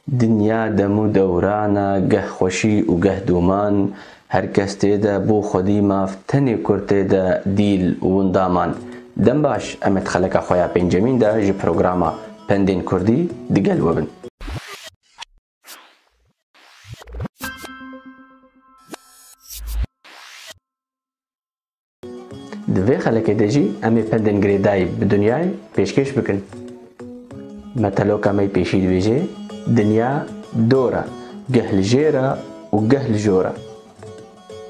Dinya dem û dewran e, geh xweşî û geh doman, her kes tê de bo xwedî mav, tenê kurd tê de dîl û windaman. Dem baş, em ê di xeleka xwe ya pêncemîn de ji programa Pendên Kurdî digel we bin. Di vê xelekê de jî em ê pendên girêdayî bi dinyayê pêşkêş bikin. Me teloka me pêşî dibêje, dinya dor e, geh li jêr e û geh li jor e.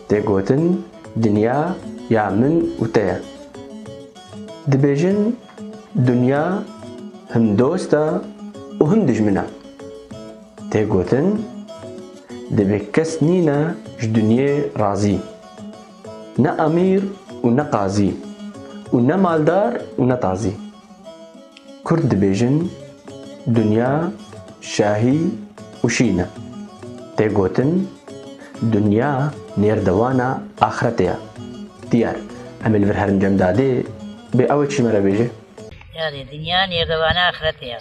Tê gotin dinya ya min û te ye. Dibêjin dinya him dost e û him dijmin e. Tê gotin divê kes nîne ji dinyê razî. Ne emîr û ne qazî û ne maldar û ne tazî. Kurd dibêjin Dunya şahî û şîn e. Tê gotin Dunya nêrdewana axretê ye. Diyar em ê li vir herin cem dadê bê ew ê çî me re bêje? Dadê, Dunya nêrdewana axretê ye.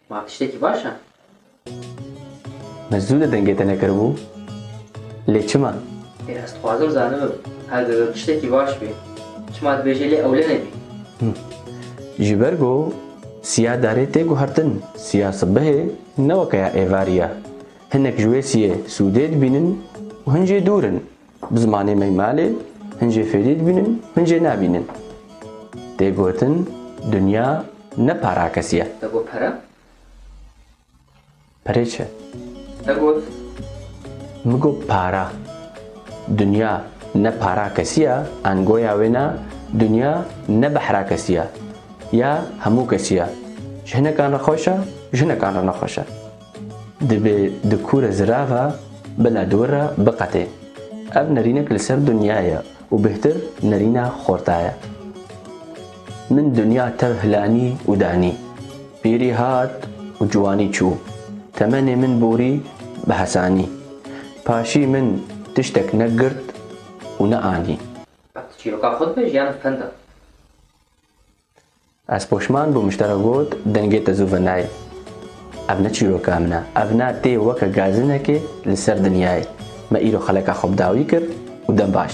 Ma tiştekî baş e. Me zû li dengê te nekiribû, lê çima? Lê ez dixwazim zanibim, heger ew tiştekî baş bê, çima dibêje lê ewle nebî? Ji ber ku siya darê tê guhertin, siya sibehê ne weke ya êvarî ye. Hinek ji wê siyê sûdê dibînin û hin jê dûr in. Bi zimanê me malê hin jê fêrî dibînin, hin jê nabînin. Tê gotin dinya ne parakesî ye. Te got pere? Perê çi? Te got? Min got para. Dinya ne parakesî ye, angoya wê ne dinya ne behrakesî ye, ya hemû kesî ye. Ji hinekan re xweş e, ji hinekan re nexweş e. Divê di kûre zira ve bila di wir re biqetê. Ev nerînek li ser dinya ye û bêhtir nerîna xorta ye. Min dinya tev hilanî û danî. Pîrî hat û ciwanî çû. Temenê min borî bi hesanî. Paşî min tiştek ne girt û ne anî. Ev tu çîroka xwe dibêj yan ev pend e? Ez poşman bûm ji te re got dengê te zû ve nayê. Ev ne çîroka min e. Ev na tê weke gazinekê li ser dinyayê. Me îro xeleka xwe bi dawî kir û dem baş.